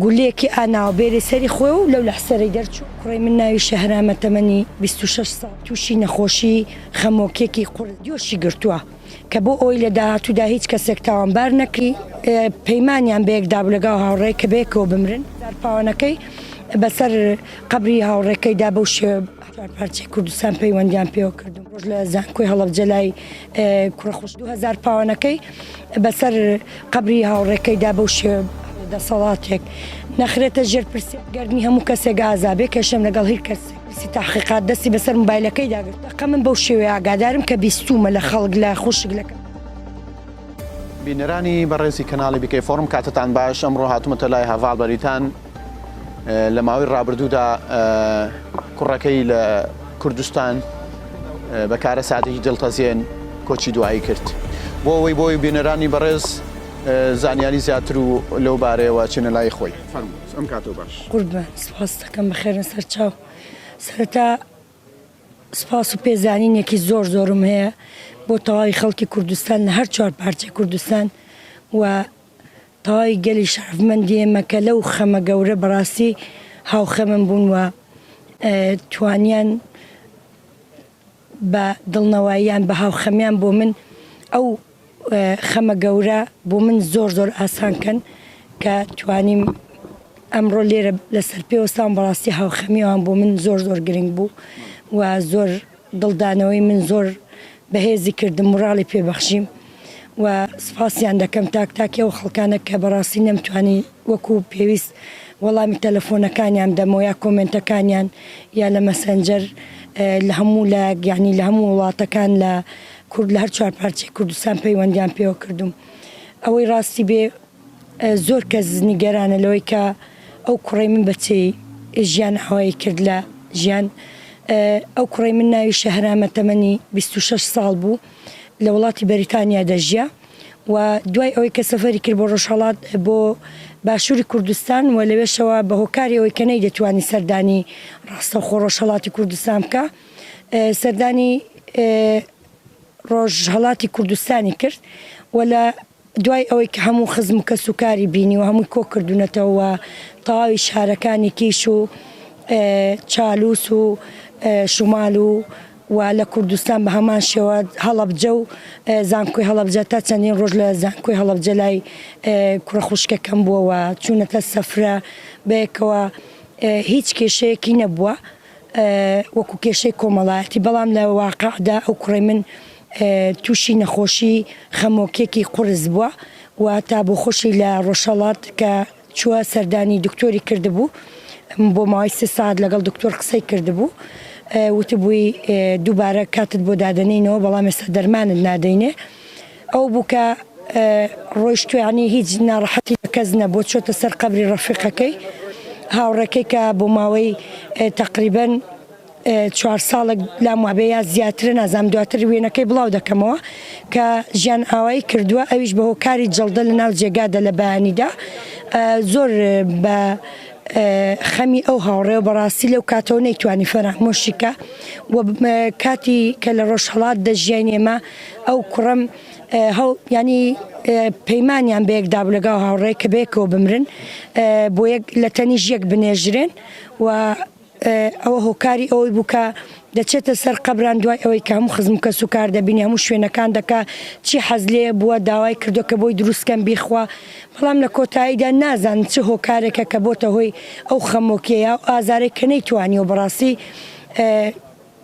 گوللەیەکی ئا ناوەبێرێ سەری خۆی و لەو لەحسەرەی دەرچوو، کوڕەی من ناوی شەهرامە تەمەنی بیست و شەش ساڵ تووشی نەخۆشی خەمۆکیەکی قورس جۆشی گرتووە کە بۆ ئەوەی لە داهاتوودا هیچ کەسێک تاوانبار نەکری پەیمانیان بەیەکدابوو لەگەڵ هاوڕێی کە بەیەکەوە بمرن جار پاوانەکەی بەسەر قەبری هاوڕێکەیدا بەو شێوە چوار پارچەی کوردستان پەیوەندیان پێوە کردم ڕۆژ لە زانکۆی هەڵەبجە لای کوڕە خوش 2000 پاوانەکەی بەسەر قبری هاوڕێکەیدا بەو شێ دەسەڵاتێک نەخرێتە ژێر پرسی گردنی هەموو کەسێک ئازابێ کێشم لەگەڵ هیر کەس پرسی تاحقیقات دەستی بەسەر موبایلەکەی داگرت قە من بەو شێوەیە ئاگادارم کە بیستومە لە خەڵک لە خوشک لەکە بینەرانی بەڕێزی کەناڵی بکەی فۆرم کاتتان باش ئەمڕۆ هاتومەتە لای هەڤاڵ بەریتان لە ماوەی ڕابردوودا کوڕەکەی لە کوردستان بە کارە سادەی دڵتەزیێن کۆچی دوایی کرد بۆ ئەوەی بۆی بینەرانی بەڕێز زانیاری زیاتر و لەو بارەیەوە چێنە لای خۆی ئەم کاتۆ باش قوربان سپاستەکەم بەخێرە سەر چاو سەرەتا سپاس و پێزانینێکی زۆر زۆرم هەیە بۆ تەواوی خەڵکی کوردستان لە هەر چوار پارچەی کوردستان و تەواوی گەلی شەرەفمەندی ئێمە کە لەو خەمە گەورە بەڕاستی هاوخەمم بوون و توانیان بە دڵنەواییان بە هاوخەمیان بۆ من ئەو خەمە گەورە بۆ من زۆر زۆر ئاسان کەن کە توانیم ئەمڕۆ لێرە لەسەر پێوەستان بەڕاستی هاوخەمیەوان بۆ من زۆر زۆر گرنگ بوو و زۆر دڵدانەوەی من زۆر بەهێزی کردم موراڵی پێ بەخشیم و سوپاسیان دەکەم تاک تاکی ئەو خەڵکانە کە بەڕاستی نەمتوانی وەکو پێویست وەڵامی تەلەفۆنەکانیان بدەمەوە یا کۆمێنتەکانیان یا لە مەسەنجەر لە هەموو لایەک یانی لە هەموو وڵاتەکان لە کورد لە هەر چوار پارچەی کوردستان پەیوەندیان پێوە کردووم ئەوەی ڕاستی بێ زۆر کەس نیگەرانە لەوەی کە ئەو کوڕەی من بە چێی ژیان ئاوایی کرد لە ژیان ئەو کوڕی من ناوی شەهرامە تەمەنی 26 ساڵ بوو لە وڵاتی بەریتانیا دەژیا و دوای ئەوەی کە سەفەری کرد بۆ ڕۆژهڵات بۆ باشووری کوردستان و لەوێشەوە بە هۆکاری ئەوەی کە نەی دەتوانی سەردانی ڕاستە خۆ ڕۆژهڵاتی کوردستان بکە سەردانی ڕۆژهڵاتی کوردستانی کرد و لە دوای ئەوەی کە هەموو خزم و کەس و کاری بینی و هەمووی کۆ کردوونەتەوە و تەواوی شارەکانی کیش و چالوس و شمال و و لە کوردستان بە هەمان شێوە هەڵەبجە و زانکۆی هەڵەبجە تا چەندین ڕۆژ لە زانکۆی هەڵەبجە لای کوڕە خوشکەکەم بووە و چوونەتە سەفرە بەیەکەوە هیچ کێشەیەکی نەبووە. وەکو کێشەی کۆمەڵایەتی بەڵام لە واقعدا ئەو کوڕەی من تووشی نەخۆشی خەمۆکیەکی قورس بووە و تا بۆ خۆشی لە ڕۆژهەڵات کە چووە سەردانی دکتۆری کردبوو بۆ ماوەی سێ ساعت لەگەڵ دکتۆر قسەی کردبوو وتبووی دووبارە کاتت بۆ دادەنینەوە بەڵام ێستا دەرمانت نادەینێ ئەو بوو کە ڕۆیشتوە یانی هیچ ناڕەحەتی لە کەس نەبوو چۆتە سەر قەبری ڕەفیقەکەی هاوڕێکەی کە بۆ ماوەی تەقریبەن چوار ساڵێک لام وابێ یا زیاترە نازام دواتر وێنەکەی بڵاو دەکەمەوە کە ژیان ئاوایی کردووە ئەویش بە هۆکاری جڵدە لە ناو جێگادە لە بەیانیدا زۆر بە خەمی ئەو هاوڕێ و بەڕاستی لەو کاتەوە نەیتوانی فەرامۆشیکە و کاتی کە لە ڕۆژهڵات دەژیین ئێمە ئەو کوڕەم هەوڵ ینی پەیمانیان بە یەکدا بوو لەگەڵ هاوڕێ کە بەیەکەوە بمرن بۆ یەک لە تەنیش یەک بنێژرێن و ئەوە هۆکاری ئەوەی بووکە دەچێتە سەر قەبران دوای ئەوەی کە هەموو خزم کەس و کار دەبینی هەموو شوێنەکان دەکا چی حەز لێ بووە داوای کردو کە بۆی دروستکەم بیخوا بەڵام لە کۆتاییدا نازان چ هۆکارێکە کە بۆتە هۆی ئەو خەمۆکیەیە ئازارێک کە نەیتوانی و بەڕاستی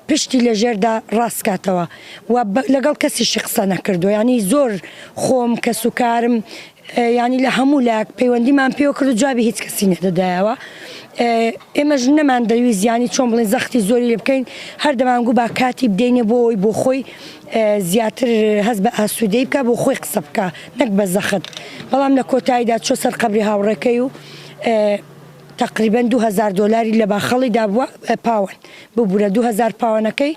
پشتی لە ژێردا ڕاست کاتەوە و لەگەڵ کەسیشی قسە نەکردوە یانی زۆر خۆم کەس و کارم یانی لە هەموو لایەک پەیوەندیمان پێوە کرد و جوابی هیچ کەسی نەدەدایەوە ئێمەش نەمان دەویست یانی چۆن بڵین زەختی زۆری لێ بکەین هەر دەمانگو با کاتی بدەینێ بۆ ئەوی بۆ خۆی زیاتر هەست بە ئاسوودەی بکە بۆ خۆی قسە بکە نەک بە زەخت بەڵام لە کۆتاییدا چۆ سەر قەبری هاوڕێکەی و تقریبا 2000 دلاری لە باخەڵی دابووە پاوەن ببورە دوو هەزار پاوەنەکەی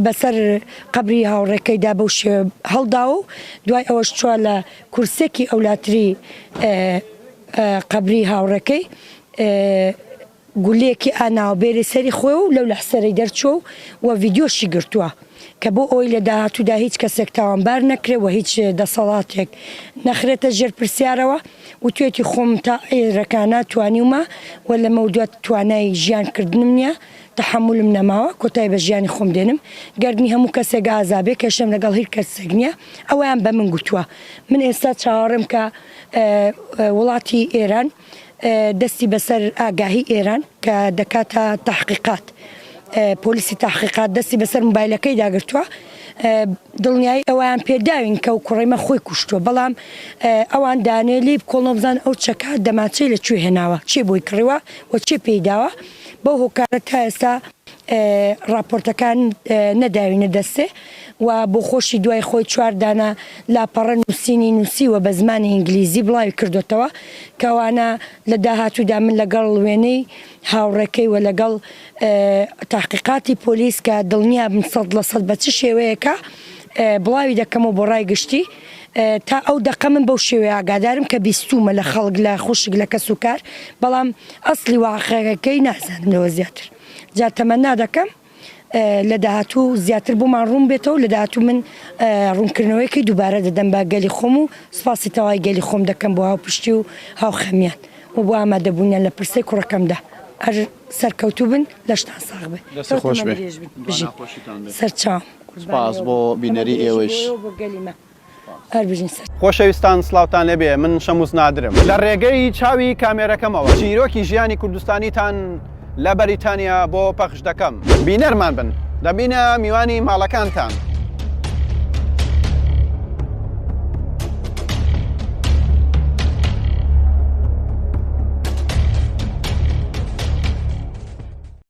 بەسەر قەبری هاوڕێکەیدا بەو شێوە هەڵداوە و دوای ئەوەش چوە لە کورسێکی ئەولاتری قەبری هاوڕێکەی گولەیەکی ئاناوە بێری سەری خۆی و لەو لەحسەرەی دەرچوە و وە ڤیددیۆشی گرتووە کە بۆ ئەوی لە داهاتوودا هیچ کەسێک تاوانبار نەکرێت و هیچ دەسەڵاتێک نەخرێتە ژێر پرسیارەوە. وتویەتی خۆم تا ئێرەکانا توانیومە و لەمەودوا توانای ژیان کردنم نیە، تەحەمولم نەماوە، کۆتای بە ژیانی خۆم دێنم، گەردنی هەموو کەسێک ئازا بێ، کێشەم لەگەڵ هیر کەسسێک نیە، ئەوەیان بە من گوتوە. من ئێستا چاوەڕێم کە وڵاتی ئێران دەستی بەسەر ئاگاهی ئێران کە دەکاتە تەحقیقات، پۆلیسی تەحقیقات دەستی بەسەر موبایلەکەیدا گرتوە، دڵنیایی ئەوەیان پێداوین کە ئەو کوڕەیمە خۆی کوشتووە، بەڵام ئەوان دانێ لێی بکۆڵنەوە بزانن ئەو چەکە دەمانچەی لە کوێ هێناوە، کێ بۆی کڕیوە و کێ پێی داوە، بەو هۆکارە تا ئێستا ڕاپۆرتەکان نەداوینە دەستێ و بۆخۆشی دوای خۆی چوار دانە لاپەڕە نووسینی نووسیوە بە زمانی ئینگلیزی بڵاوی کردۆتەوە، کەوانە لە داهاتوودا من لەگەڵ وێنەی. هاوڕێکەی وە لەگەڵ تاقیقاتی پۆلیس کە دڵنیابن سەد لە سەد بە چ شێوەیەکە بڵاوی دەکەمەوە بۆ ڕای گشتی تا ئەو دەقە من بەو شێوەیە ئاگادارم کە بیستومە لە خەڵک لە خوشک لە کەس و کار بەڵام ئەسلی واقعەکەی نازانم لەوە زیاتر جا تەمەنا دەکەم لە داهاتوو زیاتر بۆمان ڕوون بێتەوە، لە داهاتوو من ڕوونکردنەوەیەکی دووبارە دەدەم بە گەلی خۆم و سوپاسی تەوای گەلی خۆم دەکەم بۆ هاوپشتی و هاوخەمیان و بۆ ئامادەبوونیان لە پرسەی کوڕەکەمدا. هەر سەرکەوتوو بن، لەشتان ساغ بێ. دەست خۆش بێ. بژیت سەرچاوم قوربانی ئەو بم. سوپاس بۆ بینەری ئێوەیش. هەر بژین سەر. خۆشەویستان سڵاوتان لێ بێ من شەمووس نادرم لە ڕێگەی چاوی کامێرەکەمەوە چیرۆکی ژیانی کوردستانیتان لە بەریتانیا بۆ پەخش دەکەم بینەرمان بن دەبینە میوانی ماڵەکانتان.